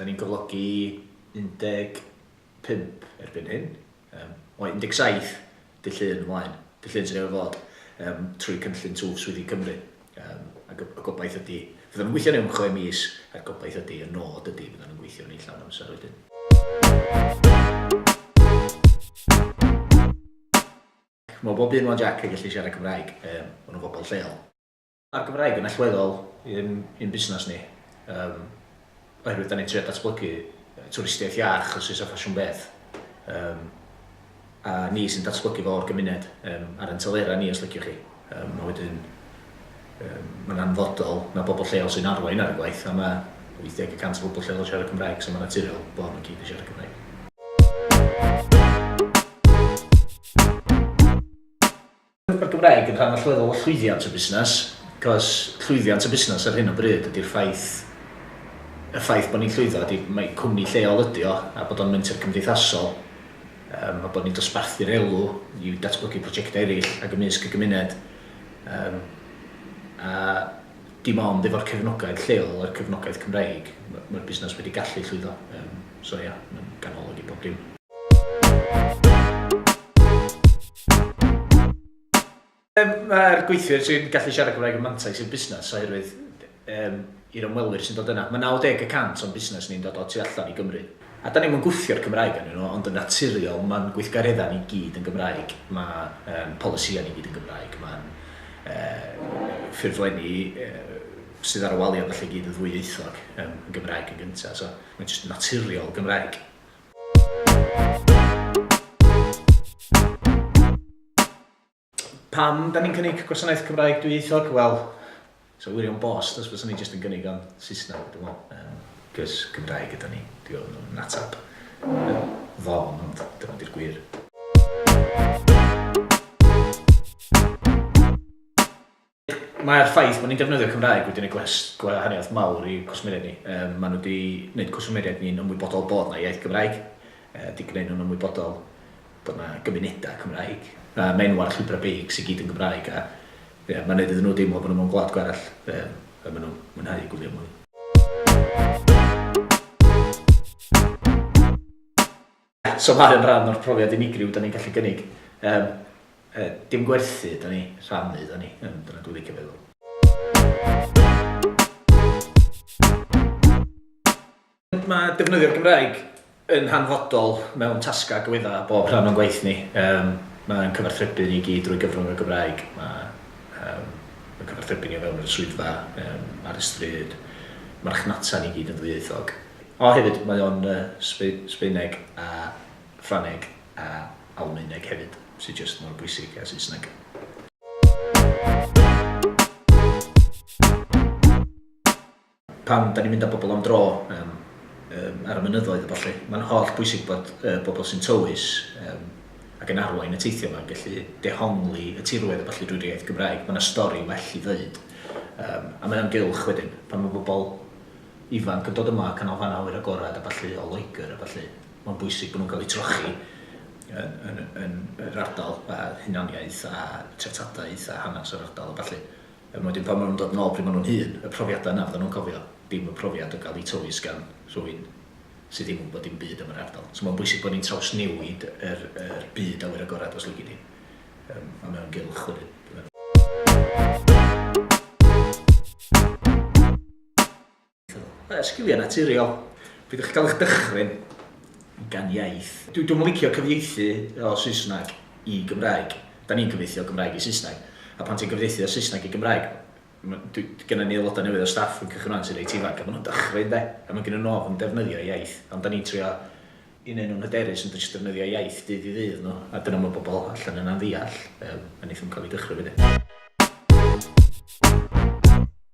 Da ni'n cyflogi 15 erbyn hyn, yym, o 17 Dydd Llun ymlaen, Dydd Llun sydd newydd fod, yym, trwy cynllun Twf Swyddi Cymru. Yym, ac y gobaith ydy, fyddan nhw'n gweithio am chwe mis, a'r gobaith ydy, y nod ydy, fyddan nhw'n gweithio yn eu llawn amser wedyn. Mae bob un 'wan Jac yn gallu siarad Cymraeg, yym, maen nhw'n bobl lleol. Mae'r Gymraeg yn allweddol i'n i'n busnes ni yym oherwydd 'dan ni'n trio datblygu twristiaeth iach os oes 'na ffasiwn beth yym a ni sy'n datblygu fo o'r gymuned yym ar ein telera ni os liciwch chi yym a wedyn yym mae'n anfodol na bobl lleol sy'n arwain ar y gwaith a mae 80 y cant o bobl lleol yn siarad Cymraeg so mae'n naturiol bo' nhw i gyd yn siarad Cymraeg. Mae'r Gymraeg yn rhan allweddol o llwyddiant y busnes, cos llwyddiant y busnes ar hyn o bryd ydy'r ffaith, y ffaith bod ni'n llwyddo ydy mai cwmni lleol ydy o a bod o'n menter cymdeithasol, yym a bod ni'n dosbarthu'r elw i datblygu projectau eraill ac ymysg y gymuned, yym a dim ond efo'r cefnogaeth lleol a'r cefnogaeth Cymreig, mae'r busnes wedi gallu llwyddo. Yym, so ia, mae'n ganolog i bob dim. Yym, mae'r gweithwyr sy'n gallu siarad Cymraeg yn mantais i'r busnes oherwydd, yym, i'r ymwelwyr sy'n dod yna, mae 90 y cant o'n busnes ni'n dod o tu allan i Gymru. A dan ni'm yn gwthio'r Cymraeg arnyn nhw, ond yn naturiol mae'n gweithgareddau ni gyd yn Gymraeg, mae polisïau ni gyd yn Gymraeg, mae'n ffurflenni sydd ar y waliau a ballu i gyd yn ddwyieithog, yn Gymraeg yn gyntaf, so mae'n jyst naturiol Gymraeg. Pam da ni'n cynnig gwasanaeth Cymraeg dwyieithog? Wel, so wirion bost os byswn ni jyst yn gynnig o'n Saesneg, dwi'n meddwl. Um, Cys Cymraeg yda ni, dwi'n meddwl nhw'n natab. Ddofn, ond dyma di'r gwir. Mae'r ffaith bod ni'n defnyddio Cymraeg wedi gwneud gwahaniaeth mawr i cwsmeriaid ni. Um, maen nhw wedi gwneud cwsmeriaid ni'n ymwybodol bod yna iaith Gymraeg, uh, wedi gwneud nhw'n ymwybodol bod yna gymunedau Cymraeg, a mae enw ar llwybrau beic sy'n gyd yn Gymraeg, a yeah, mae'n gwneud iddyn nhw deimlo bod nhw mewn gwlad gwerell, um, a maen nhw'n mwynhau gwylio mwy. Eto mae o'n rhan o'r profiad unigryw 'dan ni'n gallu gynnig. Yym yy dim gwerthu ydan ni, rhannu ydan ni, yym dyna dwi'n licio feddwl. Mae defnyddio'r Gymraeg yn hanfodol mewn tasgau agwedda' bob rhan o'n gwaith ni. Yym mae'n cyfathrebu ni i gyd drwy gyfrwng y Gymraeg. Mae yym yn cyfathrebu ni o fewn yr swyddfa, yym ar y stryd, marchnata ni i gyd yn ddwyieithog. O hefyd, mae o'n Sbaeneg a Ffrangeg a Almaeneg hefyd, sy jyst mor bwysig a Saesneg. Pan 'dan ni'n mynd â pobl am dro ar y mynyddoedd a ballu, mae'n holl bwysig bod y bobl sy'n tywys ac yn arwain y teithio 'ma yn gallu dehongli y tirwedd a ballu drwy'r iaith Gymraeg. Mae 'na stori well i ddeud a mae o'n gylch wedyn pan mae pobl ifanc yn dod yma, canolfannau awyr agored a ballu o Loegr a ballu, mae'n bwysig bod nhw'n cael eu trochi yn yn yn yr ardal a hunaniaeth a treftadaeth a hanes yr ardal a ballu. Er wedyn pan ma' nhw'n dod yn ôl pryd ma' nhw'n hŷn, y profiadau yna fyddan nhw'n cofio, dim y profiad o gael eu tywys gan rhywun sydd ddim yn gwybod dim byd am yr ardal. So mae'n bwysig bod ni'n trawsnewid yr yr byd awyr agored os lici di, yym a mae o'n gylch wedyn dwi'n meddwl. Yy, sgiliau naturiol. Pryd o'ch chi'n cael eich dychryn gan iaith? Dwi, dwi'm yn licio cyfieithu o Saesneg i Gymraeg. Da ni'n cyfieithu o Gymraeg i Saesneg. A pan ti'n cyfieithu o Saesneg i Gymraeg, ma', dwi, gynna ni aelodau newydd o staff yn cychwyn 'wan sy'n reit ifanc, a ma' nhw'n dychryn 'de, a ma' gynna nhw ofn defnyddio iaith, ond da ni'n trio i neud nhw'n hyderus yn jyst defnyddio iaith dydd i ddydd nhw, a dyna ma' bobl allan yna'n ddeall, yym, a neith nhw'm cael eu dychryn wedyn.